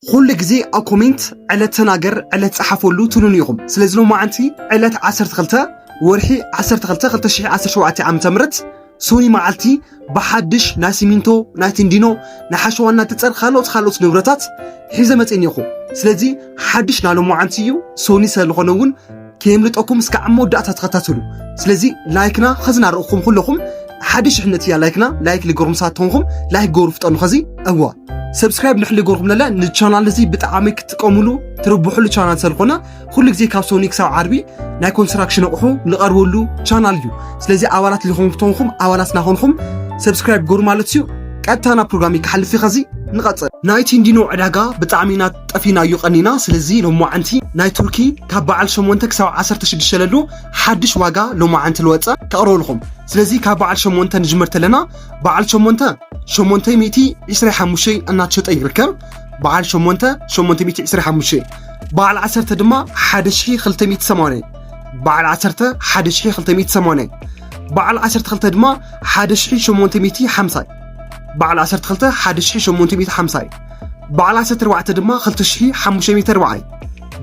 ኹሉ ግዜ ኣብ ኮሜንት ዕለት ተናገር ዕለት ጸሓፈሉ ትሉኒ ኢኹም ስለዚ ሎማዓንቲ ዕለት 12 ወርሒ 12 2017 ዓ.ም ሶኒ መዓልቲ ብሓድሽ ናይ ሲሚንቶ ናይ ትንዲኖ ናይ ሓሸዋ እናትጸር ካልኦት ካልኦት ንብረታት ሒዘ መጽእ እኒኹ ስለዚ ሓድሽ ናይ ሎማዓንቲ እዩ ሶኒ ስለዝኾነ እውን ከየምልጠኩም እስካዕ ኣብ መወዳእታ ተኸታተሉ ስለዚ ላይክና ኸዚ ናርኹም ኩለኹም ሓደ ሽሕነት እያ ላይክና ላይክ ልገርኩም ሳት ተኾንኩም ላይክ ገሩ ፍጠኑ ኸዚ እዋ ሰብስክራይብ ንሕሊ ገርኩም ለለ ንቻናል እዚ ብጣዕሚ ክትጥቀሙሉ ትርብሕሉ ቻናል ሰልኮነ ኩሉ ግዜ ካብ ሶኒ ክሳብ ዓርቢ ናይ ኮንስትራክሽን ኣቑሑ ንቐርበሉ ቻናል እዩ ስለዚ ኣባላት ልኹም ተኾንኩም ኣባላት ናኾንኩም ሰብስክራይብ ገሩ ማለት እዩ ቀጥታ ናብ ፕሮግራም ክሓልፍ ኸዚ ንቐፅል ናይቲ እንዲኖ ዕዳጋ ብጣዕሚ ኢና ጠፊና እዩ ቀኒና ስለዚ ሎማዓንቲ ናይ ቱርኪ ካብ በዓል ሸሞንተ ክሳብ ዓሰርተ ሽዱሽተ ለሎ ሓድሽ ዋጋ ሎማዓንቲ ልወፀ ከቕርበልኹም ስለዚ ካብ በዓል ሸሞንተ ንጅመር ተለና በዓል ሸሞንተ ሸሞንተይ ሚእቲ ዕስራይ ሓሙሽተይ እናተሸጠ ይርከብ በዓል ሸሞንተ ሸሞንተ ሚእቲ ዕስራይ ሓሙሽተይ በዓል ዓሰርተ ድማ ሓደ ሽሒ ክልተ ሚእቲ ሰማንያ በዓል ዓሰርተ ሓደ ሽሒ ክልተ ሚእቲ ሰማንያ በዓል ዓሰርተ ክልተ ድማ ሓደ ሽሒ ሸሞንተ ሚእቲ ሓምሳይ በዓል ዓሰርተ ክልተ ሓደ ሽሒ ሸሞንተ ሚእቲ ሓምሳ እዩ በዓል ዓሰርተ ኣርባዕተ ድማ ክልተ ሽሒ ሓሙሽተ ሚእቲ ኣርባዓ እዩ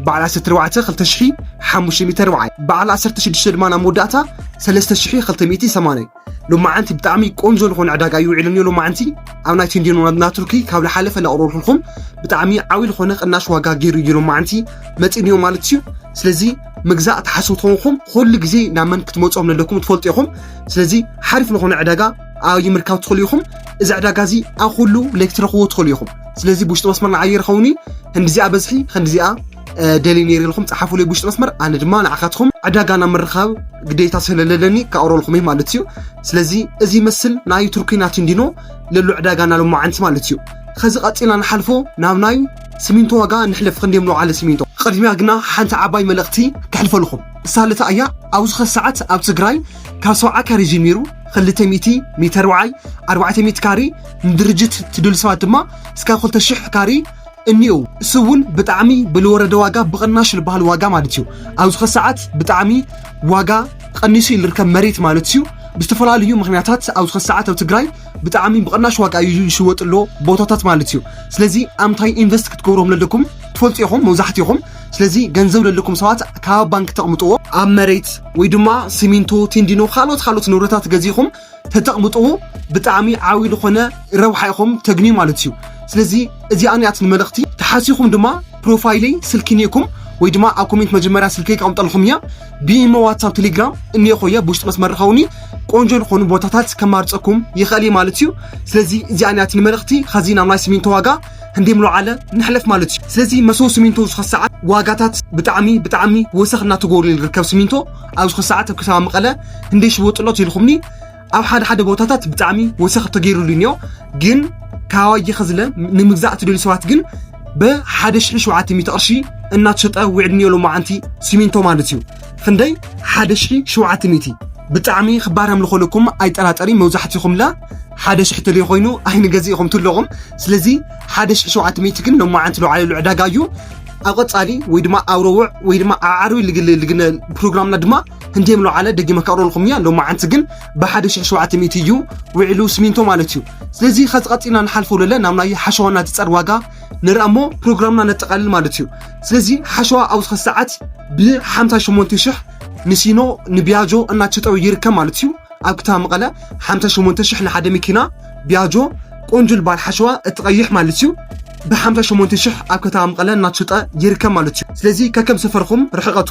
በዓል ዓሰርተ ኣርባዕተ ክልተ ሽሒ ሓሙሽተ ሚእቲ ኣርባዓ እዩ በዓል ዓሰርተ ሽዱሽተ ድማ ናብ መወዳእታ ሰለስተ ሽሒ ክልተ ሚእቲ ሰማንያ እዩ ሎማዓንቲ ብጣዕሚ ቆንጆ ዝኾነ ዕዳጋ እዩ ውዒሉ እኒኦ ሎማዓንቲ ኣብ ናይ ቴንዲኖ ናይ ቱርኪ ካብ ዝሓለፈ እናቕረብኩልኩም ብጣዕሚ ዓብዪ ዝኾነ ቅናሽ ዋጋ ገይሩ እዩ ሎማዓንቲ መፂእኒዮ ማለት እዩ ስለዚ ምግዛእ ትሓስቡ ተኾንኩም ኩሉ ግዜ ናብ መን ክትመፅኦም ዘለኩም ትፈልጡ ኢኹም ስለዚ ሓሪፍ ዝኾነ ዕዳጋ ኣበይ ምርካብ ትኽእሉ ኢኹም? እዚ ዕዳጋ እዚ ኣብ ኩሉ ለይቲ ትረኽብዎ ትኽእሉ ኢኹም። ስለዚ ብውሽጢ መስመር ንዓይ ይርኸውን እዩ ክንዲዚኣ በዝሒ ክንዲዚኣ ደልየ ነይረ ኢልኩም ፀሓፉለይ ብውሽጢ መስመር ኣነ ድማ ንዓኻትኩም ዕዳጋ ናብ ምርኻብ ግዴታ ስለለለኒ ክኣውረልኩም እዩ ማለት እዩ ስለዚ እዚ ይመስል ናይ ቱርኪና ቲንዲኖ ለሎ ዕዳጋ ናብ ሎማዓንቲ ማለት እዩ ከዚ ቀፂልና ንሓልፎ ናብ ናይ ሲሚንቶ ዋጋ ንሕለፍ ክንደዮም ንውዓለ ሲሚንቶ ቅድሚያ ግና ሓንቲ ዓባይ መልእኽቲ ከሕልፈልኹም እሳለታ እያ ኣብዚ ኸሰዓት ኣብ ትግራይ ካብ ሰብዓ ካሬ ጀሚሩ ክልተ ሚእቲ ሜተር ወዓይ ኣርባዕተ ሚእቲ ካሬ ንድርጅት ትድሉ ሰባት ድማ እስካ ክልተ ሽሕ ካሬ እኒኡ እሱ እውን ብጣዕሚ ብልወረደ ዋጋ ብቕናሽ ዝበሃል ዋጋ ማለት እዩ ኣብዚ ከ ሰዓት ብጣዕሚ ዋጋ ቀኒሱ እዩ ዝርከብ መሬት ማለት እዩ ብዝተፈላለዩ ምክንያታት ኣብዚ ከ ሰዓት ኣብ ትግራይ ብጣዕሚ ብቕናሽ ዋጋ እዩ ዝሽወጥ ኣሎ ቦታታት ማለት እዩ ስለዚ ኣምታይ ኢንቨስት ክትገብሮም ለለኩም ትፈልጡ ኢኹም መብዛሕትኹም ስለዚ ገንዘብ ዘለኩም ሰባት ካብ ኣብ ባንኪ ተቕምጥዎ ኣብ መሬት ወይ ድማ ሲሚንቶ ቲንዲኖ ካልኦት ካልኦት ንብረታት ገዚእኹም ተተቕምጥዎ ብጣዕሚ ዓብዪ ዝኾነ ረብሓ ኢኹም ተግንዩ ማለት እዩ ስለዚ እዚኣ ንያት ንመልእኽቲ ተሓሲኹም ድማ ፕሮፋይለይ ስልኪ ኒእኩም ወይ ድማ ኣብ ኮሜንት መጀመርያ ስልከይ ከቕምጠልኹም እያ ብኢሞ ዋትሳብ ቴሌግራም እኒኦ ኮየ ብውሽጢ መስመር ርኸውኒ ቆንጆ ዝኾኑ ቦታታት ከማርፀኩም ይኽእል ማለት እዩ ስለዚ እዚኣ ንያት ንመልእኽቲ ከዚ ናብ ናይ ሲሚንቶ ዋጋ ህንዴም ሎዓለ ነሕለፍ ማለት እዩ ስለዚ መሰቦ ስሚንቶ ዝኸ ሰዓት ዋጋታት ብጣዕሚ ብጣዕሚ ወሰኽ እናተጎርል ርከብ ስሚንቶ ኣብ ዝኸ ሰዓት ኣብ ከተማ መቐለ ህንዴ ሽቦ ጥሎት ኢልኹምኒ ኣብ ሓደ ሓደ ቦታታት ብጣዕሚ ወሰኽ ተገይሩሉ እኒኦ ግን ካዋየ ከዝለ ንምግዛእ ትደልዩ ሰባት ግን ብሓደ ሽሕ ሸውዓተ ሚእቲ ቅርሺ እናተሸጠ ውዕድ እኒኦ ሎማዓንቲ ስሚንቶ ማለት እዩ ክንደይ ሓደ ሽሒ ሸውዓተ ሚእቲ ብጣዕሚ ክባር ኣምልኾልኩም ኣይጠራጠሪ መብዛሕትኹምላ ሓደ ሽሕ ተለይ ኮይኑ ኣይንገዝእኹም ትለኹም ስለዚ ሓደ ሽሕ ሸውዓተ ሚእቲ ግን ሎማዓንቲ ለውዓለሉ ዕዳጋ እዩ ኣብ ቀጻሊ ወይ ድማ ኣብ ረውዕ ወይ ድማ ኣብ ዓርቢ ልግለ ልግነ ፕሮግራምና ድማ ክንደይ ምለውዓለ ደጊመ ከቕረልኩም እያ ሎማዓንቲ ግን ብሓደ ሽሕ ሸውዓተ ሚእቲ እዩ ውዒሉ ስሚንቶ ማለት እዩ ስለዚ ከዚ ቀጺልና ንሓልፎ ለለ ናብ ናይ ሓሸዋና ትጸር ዋጋ ንርኣ እሞ ፕሮግራምና ነጠቓልል ማለት እዩ ስለዚ ሓሸዋ ኣብ ዝኸ ሰዓት ብ58 ሽሕ ንሲኖ ንቢያጆ እናተሸጠው ይርከብ ማለት እዩ ኣብ ክታ መቐለ 58 ሽሕ ንሓደ መኪና ቢያጆ ቆንጆ ልባል ሓሸዋ እትቐይሕ ማለት እዩ ብ58 ሽሕ ኣብ ከተማ መቐለ እናተሸጠ ይርከብ ማለት እዩ ስለዚ ከከም ሰፈርኹም ርሕቐቱ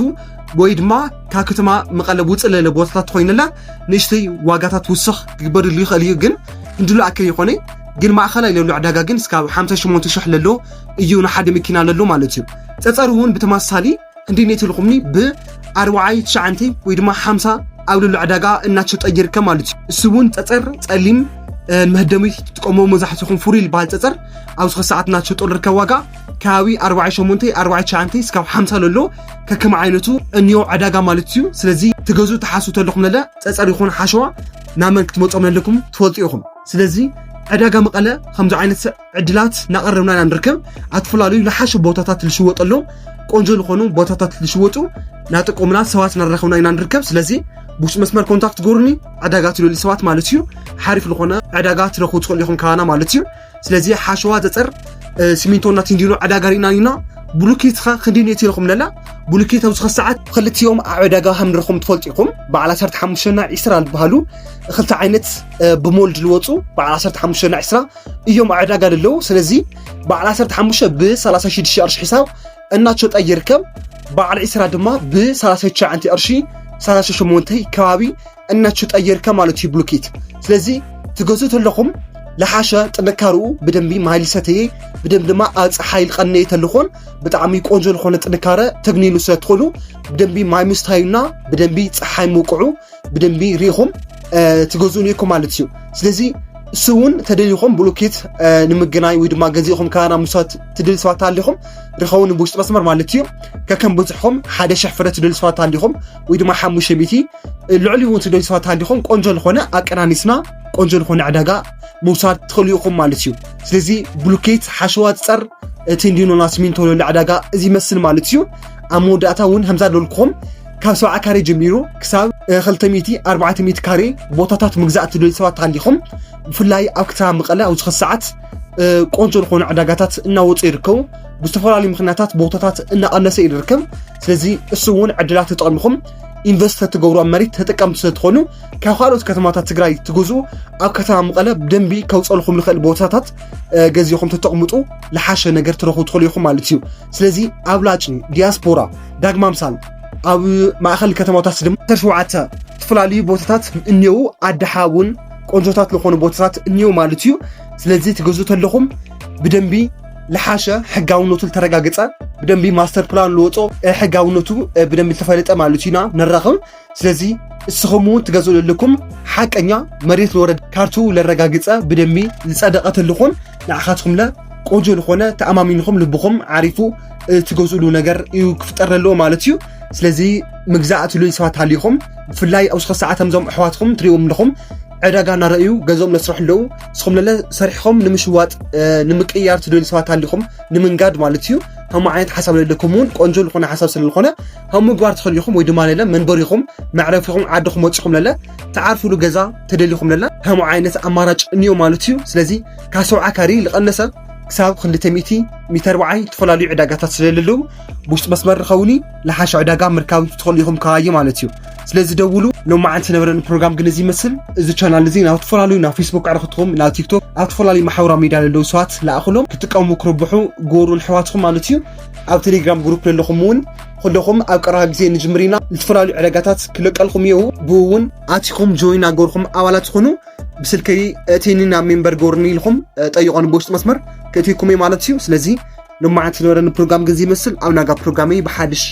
ወይ ድማ ካብ ከተማ መቐለ ውፅእ ለለ ቦታታት ኮይነላ ንእሽተይ ዋጋታት ውስኽ ክግበርሉ ይኽእል እዩ ግን ክንድሉ ኣክል ይኾነ ግን ማእኸላይ ለሎ ዕዳጋ ግን እስካብ ሓምሳ ሸሞንተ ሽሕ ለሎ እዩ ንሓደ መኪና ለሎ ማለት እዩ ፀፀር እውን ብተመሳሳሊ ክንደይ ኔት ልኹምኒ ብኣርባዓይ ትሽዓንተይ ወይ ድማ ሓምሳ ኣብ ልሉ ዕዳጋ እናሸጠ ይርከብ ማለት እዩ እሱ እውን ፀፀር ፀሊም ንመህደሚ ትጥቀሞ መብዛሕትኹም ፍሩይ ዝበሃል ፀፀር ኣብዚ ኸ ሰዓት እናሸጦ ልርከብ ዋጋ ከባቢ 48 49 እስካብ 50 ለሎ ከከም ዓይነቱ እንዮ ዕዳጋ ማለት እዩ ስለዚ ትገዙ ተሓስቡ ተለኹም ለለ ፀፀር ይኹን ሓሸዋ ናመን ክትመፆም ለለኩም ትፈልጡ ኢኹም ስለዚ ዕዳጋ መቐለ ከምዚ ዓይነት ዕድላት እናቐረብና ኢና ንርከብ ኣትፈላለዩ ዝሓሸ ቦታታት ዝሽወጠሎም ቆንጆ ዝኾኑ ቦታታት ዝሽወጡ ናጠቆምና ሰባት እናራኸብና ኢና ንርከብ ስለዚ ብውሽጢ መስመር ኮንታክት ጎርኒ ዕዳጋ ትደልዩ ሰባት ማለት እዩ ሓሪፍ ዝኾነ ዕዳጋ ትረኽቡ ትኽእሉ ኢኹም ካባና ማለት እዩ ስለዚ ሓሸዋ ዘፀር ሲሚንቶ እናትንዲኖ ዕዳጋ ርኢና ኢና ብሉኬት ኸ ክንደይ ነቲ ኢኹም ለላ ብሉኬት ኣብዚ ሰዓት ክልቲኦም ኣብ ዕዳጋ ከም ንረኹም ትፈልጡ ኢኹም በዓል 15 ና 20 ዝበሃሉ ክልተ ዓይነት ብሞልድ ልወፁ በዓል 15 ና 20 እዮም ዕዳጋ ልለው ስለዚ በዓል 15 ብ36 ቅርሺ ሒሳብ እናቸጠ ይርከብ በዓል 20 ድማ ብ39 ቅርሺ 38 ከባቢ እናቸጠ ይርከብ ማለት እዩ ብሉኬት ስለዚ ትገዙ ተለኹም ለሓሸ ጥንካርኡ ብደንቢ ማይል ሰተየ ብደንብ ድማ ኣፅ ሓይል ቀነየ ተልኾን ብጣዕሚ ቆንጆ ዝኾነ ጥንካረ ተግኒኑ ስለትኾኑ ብደንቢ ማይ ምስታዩና ብደንቢ ፀሓይ ምውቅዑ ብደንቢ ሪኢኹም ትገዝኡ ኔርኩም ማለት እዩ ስለዚ እሱ እውን ተደሊኹም ብሉኬት ንምገናይ ወይ ድማ ገዚእኹም ካና ምሳት ትደሊ ሰባት ኣሊኹም ርኸቡ ንብውሽጢ መስመር ማለት እዩ ከከም ብዝሕኹም ሓደ ሽሕ ፍረ ትደሊ ሰባት ኣሊኹም ወይ ድማ ሓሙሽተ ሚእቲ ልዕሊ እውን ትደሊ ሰባት ኣሊኹም ቆንጆ ዝኾነ ኣቀናኒስና ቆንጆ ዝኾነ ዕዳጋ ምውሳድ ትኽእሉ ኢኹም ማለት እዩ ስለዚ ብሉኬት ሓሸዋ ፀር እቲ እንዲኖና ስሚንቶ ዕዳጋ እዚ ይመስል ማለት እዩ ኣብ መወዳእታ እውን ከምዛ ደልኩም ካብ ሰብዓ ካሬ ጀሚሩ ክሳብ ክልተ ሚእቲ ኣርባዕተ ሚእቲ ካሬ ቦታታት ምግዛእ እትደልዩ ሰባት ሃሊኹም ብፍላይ ኣብ ከተማ መቐለ ኣብዚ ኸዚ ሰዓት ቆንጆ ዝኾኑ ዕዳጋታት እናወፁ ይርከቡ ብዝተፈላለዩ ምክንያታት ቦታታት እናቐነሰ እዩ ዝርከብ ስለዚ እሱ እውን ዕድላት ተጠቕምኹም ኢንቨስት ተትገብሩ ኣብ መሬት ተጠቀምቲ ስለትኾኑ ካብ ካልኦት ከተማታት ትግራይ ትግዙ ኣብ ከተማ መቐለ ብደንቢ ከውፀልኩም ዝኽእል ቦታታት ገዚኹም ተጠቕምጡ ዝሓሸ ነገር ትረኽቡ ትኽእሉ ኢኹም ማለት እዩ ስለዚ ኣብላጭ ዲያስፖራ ዳግማ ምሳል ኣብ ማእኸል ከተማታት ድማ ዓሰርተ ሸውዓተ ዝተፈላለዩ ቦታታት እኔዉ ኣድሓ እውን ቆንጆታት ዝኾኑ ቦታታት እኔዉ ማለት እዩ ስለዚ ትገዙ ተለኹም ብደንቢ ልሓሸ ሕጋውነቱ ዝተረጋገፀ ብደንቢ ማስተር ፕላን ልወፆ ሕጋውነቱ ብደንቢ ዝተፈለጠ ማለት እዩና ንራኽብ ስለዚ እስኹም እውን ትገዝኡ ለለኩም ሓቀኛ መሬት ለወረድ ካርቱ ለረጋግፀ ብደሚ ዝፀደቐ ተልኹም ንዓኻትኩም ለ ቆንጆ ዝኾነ ተኣማሚንኹም ልብኹም ዓሪፉ ትገዝእሉ ነገር እዩ ክፍጠር ዘለዎ ማለት እዩ ስለዚ ምግዛእ ትልዩ ሰባት ሃሊኹም ብፍላይ ኣብ ዝኸ ሰዓት ዞም ኣሕዋትኩም ትሪእዎም ኣለኹም ዕዳጋ እናረእዩ ገንዘቦም ለስርሑ ኣለዉ እስኹም ለለ ሰሪሕኹም ንምሽዋጥ ንምቅያር ትደልዩ ሰባት ሃሊኹም ንምንጋድ ማለት እዩ ከምኡ ዓይነት ሓሳብ ለለኩም እውን ቆንጆ ዝኾነ ሓሳብ ስለዝኾነ ከም ምግባር ትኽእሉ ኢኹም ወይ ድማ ለለ መንበሪኹም መዕረፊኹም ዓድኹም ወፂኹም ለለ ትዓርፍሉ ገዛ ተደሊኹም ለለ ከምኡ ዓይነት ኣማራጭ እንዮ ማለት እዩ ስለዚ ካብ ሰብዓ ካሪ ዝቐነሰ ክሳብ ክልተ ሚእቲ ሚተር በዓይ ዝተፈላለዩ ዕዳጋታት ስለለለዉ ብውሽጢ መስመር ርኸውኒ ለሓሸ ዕዳጋ ምርካብ ትኽእሉ ኢኹም ከባዩ ማለት እዩ ስለዚ ደውሉ ሎማዓንቲ ዝነበረኒ ፕሮግራም ግን እዚ ይመስል እዚ ቻናል እዚ ናብ ዝተፈላለዩ ናብ ፌስቡክ ዕረኽትኹም ናብ ቲክቶክ ኣብ ዝተፈላለዩ ማሕበራዊ ሚድያ ዘለዉ ሰባት ለኣኽሎም ክጥቀሙ ክርብሑ ጎሩ ንሕዋትኹም ማለት እዩ ኣብ ቴሌግራም ግሩፕ ለለኹም እውን ኩለኹም ኣብ ቀረባ ግዜ ንጅምር ኢና ዝተፈላለዩ ዕደጋታት ክለቀልኩም እየው ብኡ እውን ኣቲኹም ጆይን ኣገርኩም ኣባላት ዝኾኑ ብስልከይ እቲኒ ናብ ሜምበር ገርኒ ኢልኹም ጠይቆን ብውሽጢ መስመር ክእትይኩም እየ ማለት እዩ ስለዚ ንማዓት ዝነበረኒ ፕሮግራም ግን ዝይመስል ኣብ ናጋ ፕሮግራመይ ብሓድሽ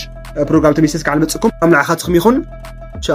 ፕሮግራም ተመይሰስ ካዓ ንመፅእኩም ኣብ ንዓኻትኩም ይኹን ቻው